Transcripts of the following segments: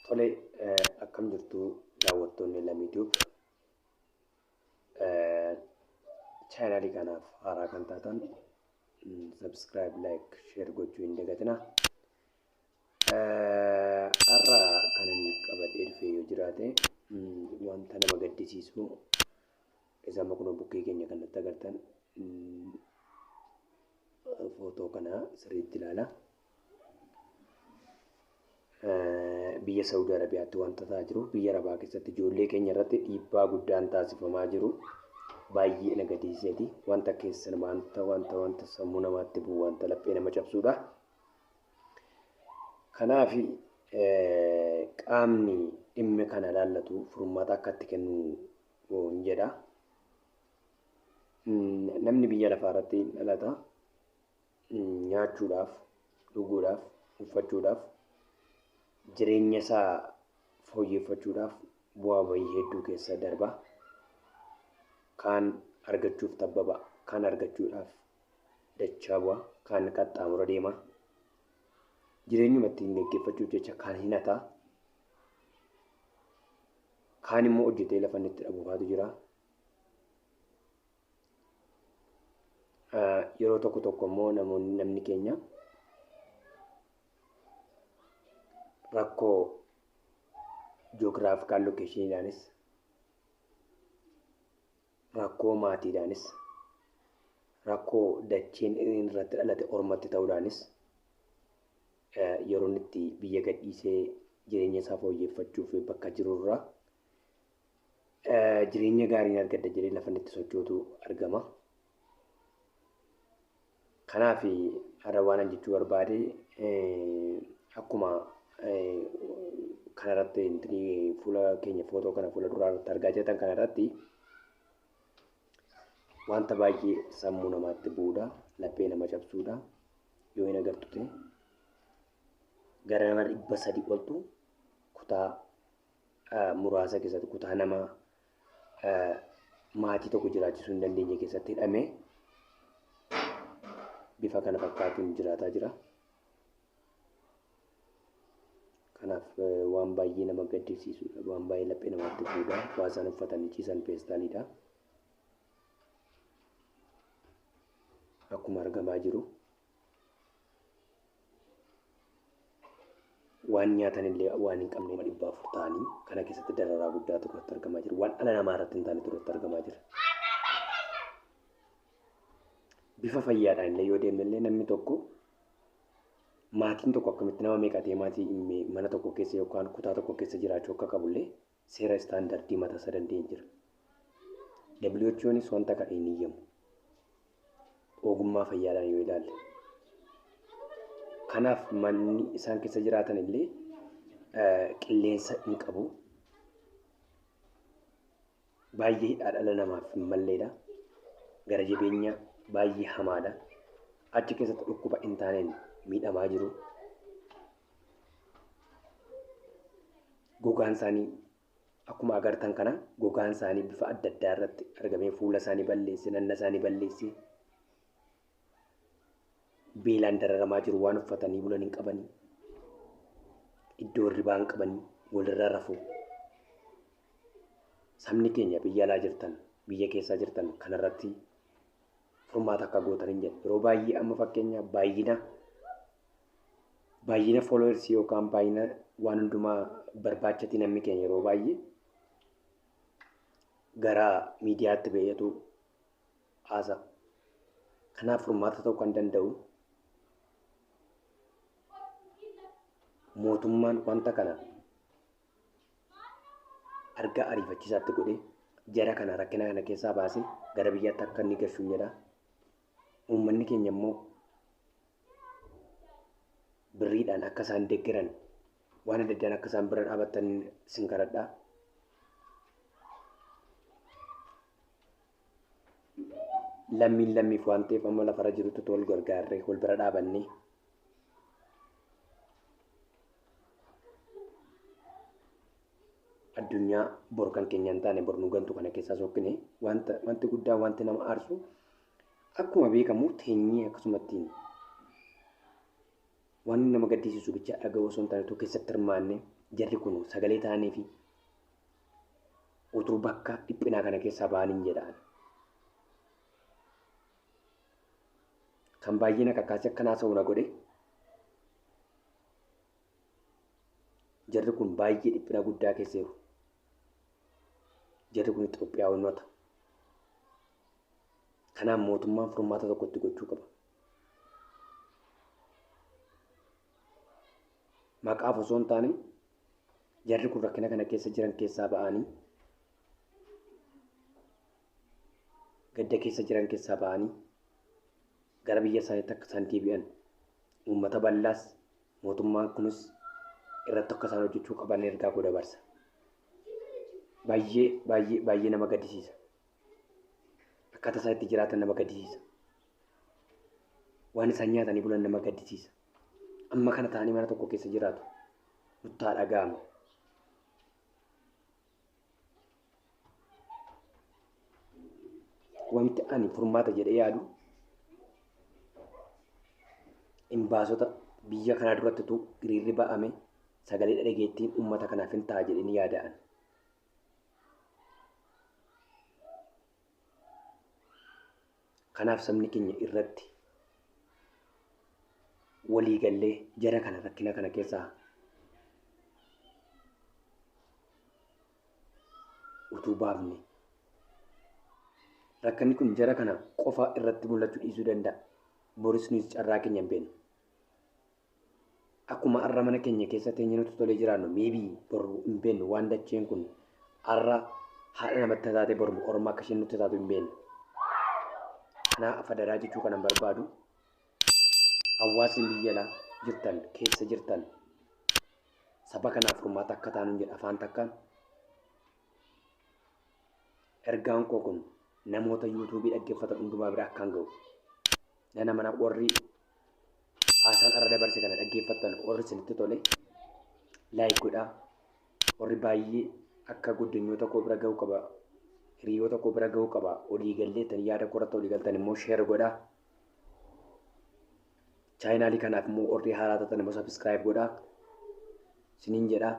Tole akkam jirtu daawwattoonni Lamii Tube. Chaanaalii kanaaf haaraa kan taatan subscribe, like, share gochuu hin dagatinaa. Har'a kan inni qabadhee dhufee yoo jiraate wanta nama gaddisiisu Isa amma kunoo bukkee keenya kan natti agartan footoo kana sirriitti ilaala. Biyya Saawudii Arabiyaatti wanta ta'aa jiru biyya Arabaa keessatti ijoollee keenya irratti dhiibbaa guddaan taasifamaa jiru baay'ee na gadisiiseeti. Wanta keessan wanta wanta wanta sammuu namaatti bu'u wanta laphee nama cabsuudha. Kanaaf qaamni dhimmi kana ilaallatu furmaata akka itti kennu hin jedha. Namni biyya lafaa irratti hin dhalata. Nyaachuudhaaf, dhuguudhaaf, uffachuudhaaf, jireenya isaa fooyyeffachuudhaaf bu'aa bahii hedduu keessa darba. Kaan argachuuf tabbaba, kaan argachuudhaaf dachaa bu'a, kaan qaxxaamura deema. Jireenyuma ittiin geggeeffachuuf jecha kaan hin hata. Kaan immoo hojjetee lafa inni itti dhabu faatu jira. Yeroo tokko tokko immoo namoonni namni keenya rakkoo joogiraafikaal lokeeshiniidhaanis Rakkoo maatiidhaanis, rakkoo dacheen inni irratti dhalate ormatti ta'uudhaanis yeroo inni itti biyya gadhiisee jireenya isaa fooyyeffachuuf bakka jiru irraa jireenya gaarii argadha jedhee lafa inni itti sochootu argama. Kanaaf har'a waanan jechuu barbaade akkuma kanarratti intinii fuula keenya footoo kana fuula duraa irratti argaa jirtan kanarratti wanta baay'ee sammuu namaatti bu'uudha laphee nama cabsuudha yoo hin agartu ta'e gara nama dhibba sadii oltu kutaa muraasa keessatti kutaa nama maatii tokko jiraachisuu hin dandeenye keessatti hidhamee bifa kana fakkaatuun jiraataa jira. Kanaaf waan baay'ee nama gaddisiisudha. Waan baay'ee laphee namaatti buudha. Waa isaan uffatanii ciisan peestaaliidha. Akkuma argamaa jiru. waan nyaatan illee waan hin qabne dhibba afur ta'anii kana keessatti dararaa guddaa tokkotti argamaa jira. Waan dhala namaa irratti hin taane tokkotti argamaa jira. Bifa fayyaadhaan illee yoo deemne illee namni tokko maatiin tokko akkamitti nama meeqatee maatii mana tokko keessa yookaan kutaa tokko keessa jiraachuu akka qabu illee seera istaandardii matasa danda'e jira. WHOnis wanta kana hin iyyamu. Ogummaa fayyaadhaan yoo ilaalle. Kanaaf manni isaan keessa jiraatan illee qilleensa hin qabu. Baay'ee hidhaa dhala namaaf hin malleedha. Gara jabeenya baay'ee hamaadha. Achi keessatti dhukkuba hin taaneen miidhamaa jiru. gogaan isaanii akkuma agartan kana gogaan isaanii bifa adda addaa irratti argamee fuula isaanii balleesse nanna isaanii balleesse beelaan dararamaa jiru waan uffatanii bulan hin qabanii iddoo hirribaa hin qabanii walirra rafuu sabni keenya biyya alaa jirtan biyya keessaa jirtan kanarratti furmaata akka gootan hin jedhu. Yeroo baay'ee amma fakkeenya baay'ina baay'ina followers yookaan baay'ina waan hundumaa barbaachati namni keenya yeroo baay'ee gara miidiyaatti ba'eetu haasa. Kanaaf furmaata ta'uu kan danda'u mootummaan wanta kana argaa ariifachiisaatti godhee jara kana rakkina kana keessaa baasee gara biyyaatti akka inni gashuun jedha. Uummanni keenya immoo birriidhaan akka isaan deggeran waan adda addaan akka isaan bira dhaabatan sin kadhadha. Lammiin lammiif waan ta'eef amma lafarra jirutti tol gargaarree wal bira dhaabannee addunyaa bor kan keenya hin taane bor nu gantu kana keessaa sokkine wanta wanti guddaa wanti nama aarsu akkuma beekamu teenyee akkasumatti waan nama gaddisiisu bicha dhaga'uu osoo hin taane tokko keessatti hirmaanne jarri kun sagalee ta'anii fi utuu bakka dhiphinaa kana keessaa ba'aniin jedhaan. kan baay'ee na kakaase akkan haasa'u na godhe jarri kun baay'ee dhiphina guddaa keessa jiru. Jarri kun Itoophiyaawwanota. Kanaaf mootummaan furmaata tokko itti gochuu qaba. Maqaaf osoo hin taane jarri kun rakkina kana keessa jiran keessaa ba'anii gadda keessa jiran keessaa ba'anii gara biyya isaaniitti akka isaan deebi'an uummata bal'aas mootummaan kunis irratti akka isaan hojjechuu qaban ergaa koo dabarsa. Baay'ee baay'ee baay'ee nama gaddisiisa. Akkaataa isaan itti jiraatan nama gaddisiisa. Waan isaan nyaatanii bulan nama gaddisiisa. Amma kana ta'anii mana tokko keessa jiraatu. Nuttaa dhaga'ama. Wanti ani furmaata jedhee yaadu imbaasota biyya kanaa duratti utuu hiriirri ba'ame sagalee dhageettiin uummata kanaaf hin ta'a jedhanii yaada'an. Kanaaf sabni keenya irratti walii gallee jara kana rakkina kana keessaa utuu baafne rakkanni kun jara kana qofa irratti mul'achuu dhiisuu danda'a. Boris nuyi carraa keenya hin beeknu. akkuma arra mana keenya keessa teenye nutti tolee jiraannu maybe boru hin beeknu waan dacheen kun arra haadha namatti taate boru orma akka isheen nutti taatu hin beeknu. Kanaa afadaraa jechuu kanan barbaadu hawaasni biyya alaa jirtan keessa jirtan saba kanaaf furmaata akka taanu jedha afaan takkaan. Ergaan koo kun namoota yuutuubii dhaggeeffatan hundumaa bira akkaan ga'u. Nana mana warri haasaan arra dabarse kana dhaggeeffattan warri isinitti tole laayik godhaa warri baay'ee akka guddinyoota koo bira ga'uu qaba hiriyoota koo bira ga'uu qaba olii galleetan yaada korratti olii galtan immoo sheer godhaa chaayinaalii kanaaf immoo warri haaraa taatan immoo sabiskiraayib godhaa isiniin jedhaa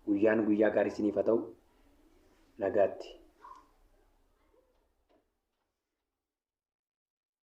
guyyaan guyyaa gaarii isiniif haa ta'u nagaatti.